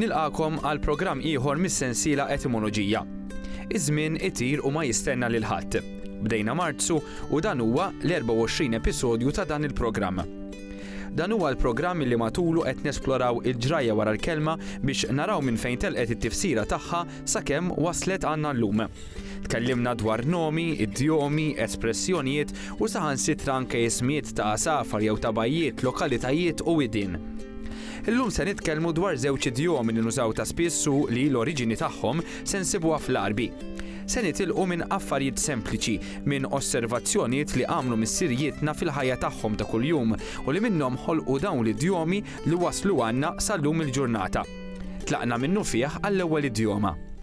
Nilqagħkom għal programm ieħor mis-sensiela Etimoloġija. Iż-żmien itir u ma jistenna lil ħadd. Bdejna Marzu u dan huwa l-24 episodju ta' dan il-programm. Dan huwa l-programm li matulu qed nesploraw il-ġrajja wara l-kelma biex naraw minn fejn telqet it-tifsira tagħha sakemm waslet għandna llum. Tkellimna dwar nomi, idjomi, espressjonijiet u saħansitra anke ismijiet ta' għasafar jew ta' bajjiet, lokalitajiet u widien. Illum se nitkellmu dwar żewġ idjomi li nużaw ta' spiss u li l-oriġini tagħhom se nsibuha fl-Għarbi. Se nitilqu minn affarijiet sempliċi, minn osservazzjonijiet li għamlu missirijietna fil-ħajja tagħhom ta' kuljum u li minnhom ħolqu dawn l-idjomi li waslu għandna sal-lum il-ġurnata. Tlaqna minnufih għall-ewwel idjoma.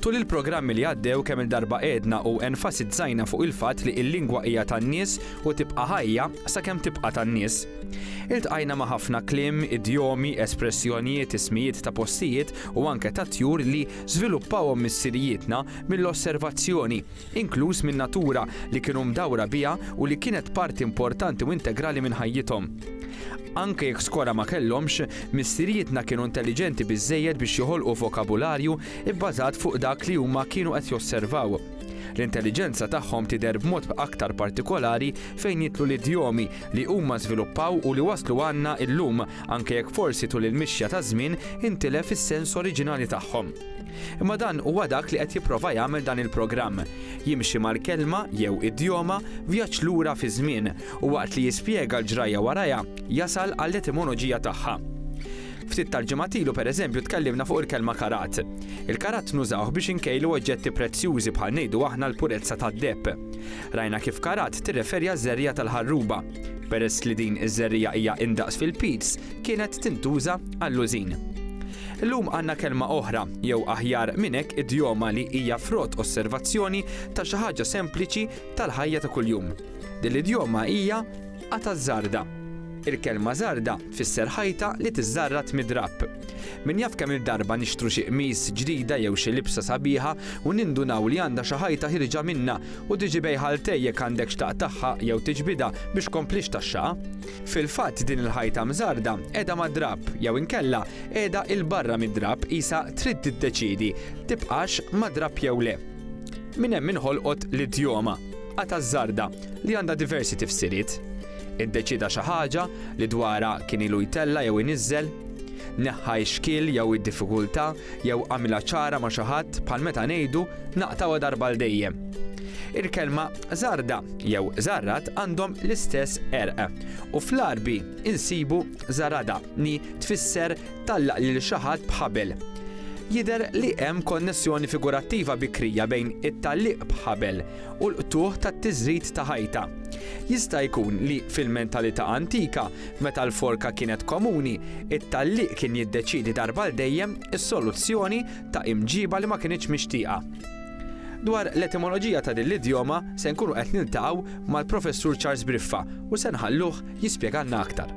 Tul il-programmi li għaddew kemm-il darba għedna u enfasizzajna fuq il-fatt li l-lingwa hija tan-nies u tibqa' ħajja sakemm tibqa' tan-nies. Iltqajna ma' ħafna kliem, idjomi, espressjonijiet, ismijiet ta' postijiet u anke ta' tjur li żviluppawhom missirijietna mill-osservazzjoni, inkluż minn natura li kienu mdawra biha u li kienet parti importanti u integrali minn ħajjithom. Anke jekk skora ma kellhomx, missirijietna kienu intelliġenti biżżejjed biex joħolqu vokabularju bbażat fuq dak li huma kienu qed josservaw. L-intelliġenza tagħhom tidher b'mod aktar partikolari fejn jidħlu l-idjomi li huma żviluppaw u li waslu għandna llum, anke jekk forsi tul il-mixja taż-żmien intilef is-sens oriġinali tagħhom. Imma dan huwa dak li qed jipprova jagħmel dan il-programm. Jimxi mal-kelma, jew idjoma, vjaġġ lura fiż-żmien, u waqt li jispjega l-ġrajja warajha, jasal għall-etimoloġija tagħha. Ftit tal-ġimgħat ilu pereżempju tkellimna fuq il-kelma karat. Il-karat nużawh biex inkejlu oġġetti prezzjużi bħal ngħidu aħna l-purezza tad-deheb. Rajna kif karat tirreferi għaż-żerriegħa tal-ħarruba. Peress li din iż-żerriegħa hija indaqs fil-piz, kienet tintuża għall-użin. Illum għandna kelma oħra, jew aħjar minn hekk idjoma li hija frott osservazzjoni ta' xi ħaġa sempliċi tal-ħajja ta' kuljum. Din l-idjoma hija qatgħa żarda. Il-kelma żarda tfisser ħajta li tiżżarrad mid-drapp. Min jaf kemm-il darba nixtru xi qmis ġdida jew xi libsa sabiħa u nindunaw li għandha xi ħajta ħierġa minnha u tiġi bejħa 'l tej jekk għandek x'taqtagħha jew tiġbidha biex tkomplix taxxaha. Fil-fatt din il-ħajta mżarda qiegħda mad-drapp jew inkella qiegħda 'il barra mid-drapp qisha trid tiddeċiedi tibqax mad-drapp jew le. Minn hemm inħolqot l-idjoma, qatgħa żarda, li għandha diversi tifsiriet. Iddeċieda xi ħaġa li dwarha kien ilu jtella' jew iniżżel? Neħħa x-xkiel jew id-diffikultà Jew agħmilha ċara ma' xi ħadd bħal meta ngħidu, naqtgħuha darba għal dejjem. Il-kelma żarda jew żarrad għandhom l-istess qerq, u fl-Għarbi insibu żarada li tfisser tgħallaq lil xi ħadd b'ħabel. Jidher li hemm konnessjoni figurattiva bikrija bejn it-tgħalliq b'ħabel u l-qtugħ tat-tiżrid ta' ħajta. Jista' jkun li fil-mentalità antika Meta l-forka kienet komuni, it-tgħalliq kien jiddeċiedi darba għal dejjem is-soluzzjoni ta' imġiba li ma kinitx mixtieqa. Dwar l-etimoloġija ta' din l-idjoma se nkunu qed niltaqgħu mal-Professur Charles Briffa u se nħalluh jispjegalna aktar.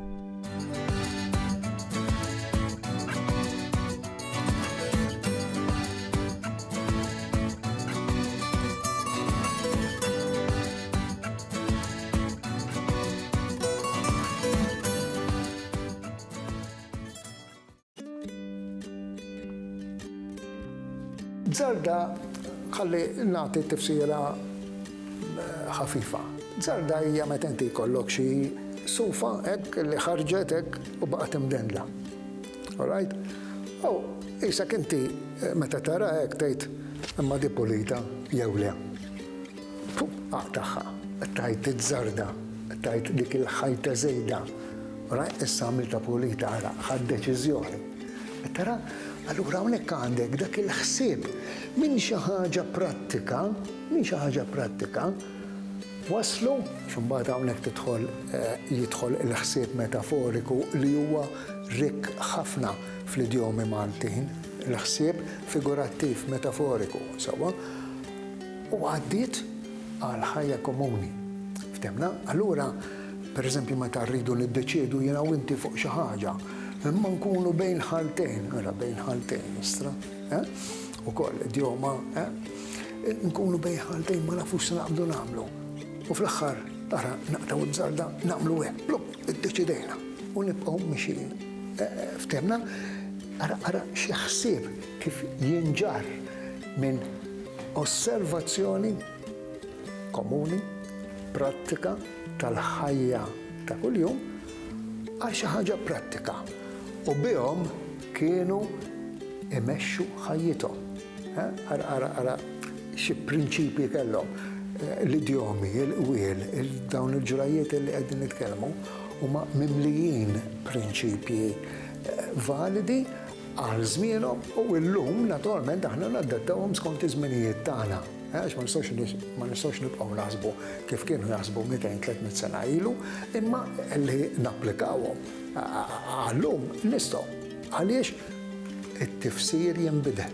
Zarda, ħalli nagħti tifsira eh, ħafifa. Zarda hija meta inti jkollok xi sufa hekk li ħarġet hekk u baqgħet imdendla. Alright? Aw, isak inti eh, meta tara hekk tgħid imma di pulita jew le. Fuq aq tagħha qed tgħid iż-żarda, qed tgħid dik il-ħajta żejda. Ara, issa għamiltha pulita, ara, ħadt deċiżjoni. Qed tara? Allura hawnhekk għandek dak il-ħsieb minn xi ħaġa prattika, minn xi ħaġa prattika, waslu, x'imbagħad hawnhekk tidħol jidħol il-ħsieb metaforiku li huwa rikk ħafna fl-idjomi Maltin, il-ħsieb figurattiv, metaforiku, sewwa? u għaddiet għal ħajja komuni. Fthemna? Allura, per eżempju, meta rridu niddeċiedu jiena u inti fuq xi ħaġa, imma nkunu bejn ħaltejn, ara bejn ħaltejn, istra, eh? ukoll idjoma, eh? nkunu bejn ħaltejn ma nafux se naqbdu nagħmlu. U fl-aħħar, ara naqtaw iż-żarda nagħmlu hekk, blum, iddeċidejna u nibqgħu mixin. Eh, eh, fthemna? Ara, ara, xi ħsieb kif jinġarr minn osservazzjoni komuni, prattika tal-ħajja ta' kuljum għal xi ħaġa prattika u bihom kienu imexxu ħajjithom. Ara, ara, ara xi prinċipji kellhom eh, l-idjomi, il-qwiel, dawn il-ġrajiet li qegħdin nitkellmu huma mimlijin prinċipji eh, validi Għal żmienhom u llum naturalment aħna nadattawhom skont iż-żminijiet tagħna. Għax ma nistgħux ma nistgħux nibqgħu naħsbu kif kienu jaħsbu 200, 300 sena ilu, imma li napplikawhom għal lum nistgħu. Għaliex it-tifsir jinbidel.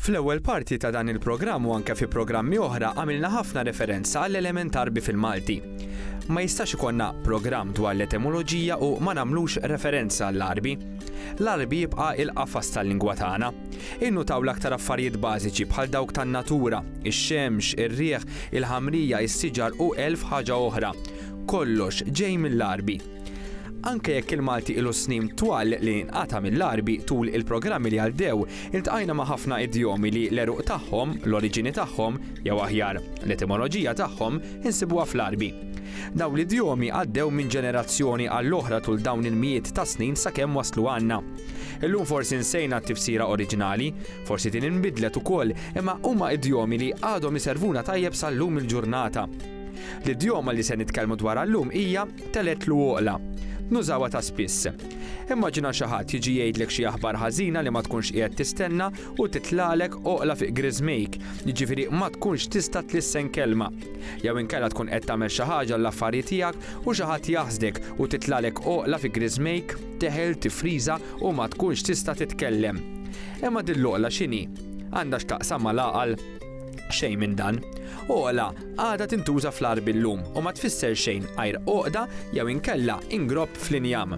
Fl-ewwel parti ta' dan il-programm u anke fi programmi oħra għamilna ħafna referenza għall-element Għarbi fil-Malti. Ma jistax ikollna programm dwar l-etimoloġija u ma nagħmlux referenza għall-Għarbi. L-Għarbi jibqa' il-qafas tal-lingwa tagħna. Innutaw l-aktar affarijiet bażiċi bħal dawk tan-natura, ix-xemx, ir-riħ, il-ħamrija, is-siġar u elf ħaġa oħra. Kollox ġej mill-Għarbi. Anke jekk il-Malti ilu snin twal li nqata' mill-Għarbi, tul il-programmi li għaddew, iltqajna ma' ħafna idjomi li l-għeruq tagħhom, l-oriġini tagħhom, jew aħjar, l-etimoloġija tagħhom, insibuha fl-Għarbi. Dawn l-idjomi għaddew minn ġenerazzjoni għall-oħra tul dawn il-mijiet ta' snin sakemm waslu għandna. Illum forsi nsejna t-tifsira oriġinali, forsi din inbidlet ukoll, imma huma idjomi li għadhom iservuna tajjeb sal-lum il-ġurnata. L-idjoma li se nitkellmu dwarha llum hija Teletlu għoqla. Nużawha ta' spiss. Immaġina xi ħadd jiġi jgħidlek xi aħbar ħażina li ma tkunx qiegħed tistenna u titlagħlek għoqla fi qriżmejk, jiġifieri ma tkunx tista' tlissen kelma. Jew inkella tkun qed tagħmel xi ħaġa għall-affarji tiegħek u xi ħadd jaħsdek u titlagħlek għoqla fi qriżmejk, teħel, tifriża u ma tkunx tista' titkellem. Imma din l-għoqla x'inhi? Għandha x'taqsam mal-għaqal? Xejn minn dan. Għoqla għadha tintuża fl-għarb illum u ma tfisser xejn għajr għoqda jew inkella ingropp fl-injam.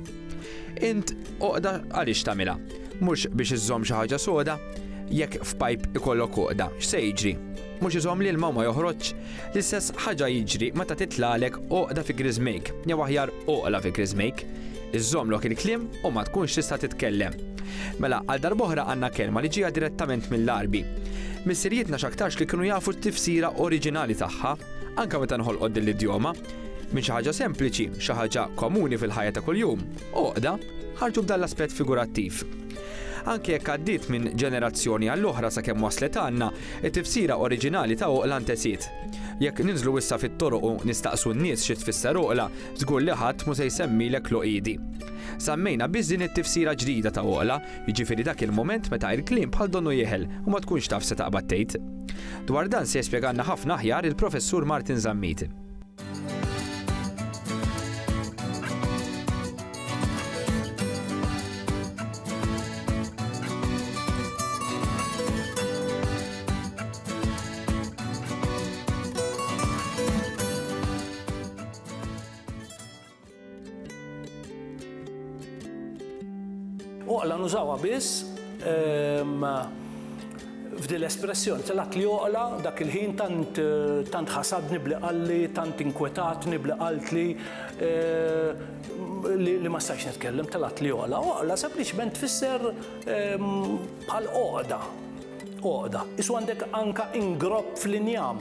Int għoqda għaliex tagħmilha? Mhux biex iżżomm xi ħaġa soda? Jekk f'pajp ikollok għoqda, x'se jiġri? Mhux iżomm l-ilma ma joħroġx? L-istess ħaġa jiġri meta titlagħlek għoqda fi griżmejk, jew aħjar għoqla fi griżmejk. Iżżomm lok il-kliem u ma tkunx tista' titkellem. Mela, għal darb'oħra għandna kelma li ġieha direttament mill-Għarbi. Missirijietna x'aktarx li kienu jafu t-tifsira oriġinali tagħha, anke meta nħolqot din l-idjoma. Minn xi ħaġa sempliċi, xi ħaġa komuni fil-ħajja ta' kuljum, għoqda, ħarġu b'dan l-aspett figurattiv. Anke jekk għaddiet minn ġenerazzjoni għall-oħra sakemm waslet għandna, it-tifsira oriġinali ta' għoqla ntesiet. Jekk ninżlu issa fit-toroq u nistaqsu n-nies xi tfisser għoqla, Żgur li ħadd mhu se jsemmilek l-għoqiedi. Sammejna biss din it-tifsira ġdida ta' għoqla, jiġifieri dak il-mument meta il-kliem bħal donnu jeħel u ma tkunx taf se taqbad tgħid. Dwar dan se jispjegalna ħafna aħjar il-Professur Martin Zammit. Oqla nużawha biss ehm, f'dil espressjoni telgħat li oqla dak il-ħin tant tant ħasadni bli qalli, tant inkwetatni bli qaltli eh, li ma stajx nitkellem telgħat li oqla. Oqla sempliċement tfisser ehm, bħal oqda. Oqda. Isu għandek anka ingrob fl-injam.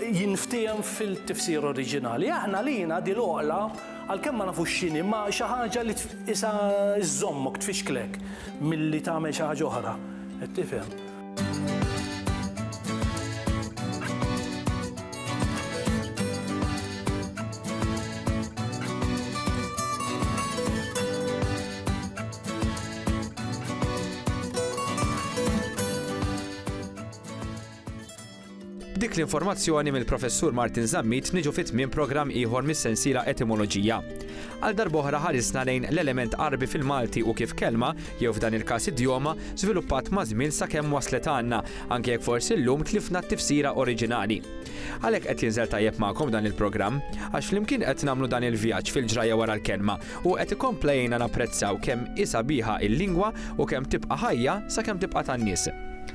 jinftiehem fil-tifsira oriġinali. Aħna lina din l-għoqla għalkemm ma nafux x'inhi ma xi ħaġa li tqisha żżommok, tfixklek milli tagħmel xi ħaġa oħra. Qed tifhem? B'dik l-informazzjoni mill-Professur Martin Zammit niġu fi tmiem programm ieħor mis-sensiela Etimoloġija. Għal darb'oħra ħarisna lejn l-element Għarbi fil-Malti u kif kelma, jew f'dan il-każ idjoma, żviluppat maż-żmien sakemm waslet għandna, anke jekk forsi llum tlifna t-tifsira oriġinali. Għalhekk qed jinżel tajjeb magħkom dan il-programm, għax flimkien qed nagħmlu dan il-vjaġġ fil-ġrajja wara l-kelma u qed ikompla jgħinna napprezzaw kemm hi sabiħa l-lingwa u kemm tibqa' ħajja sakemm tibqa' tan-nies.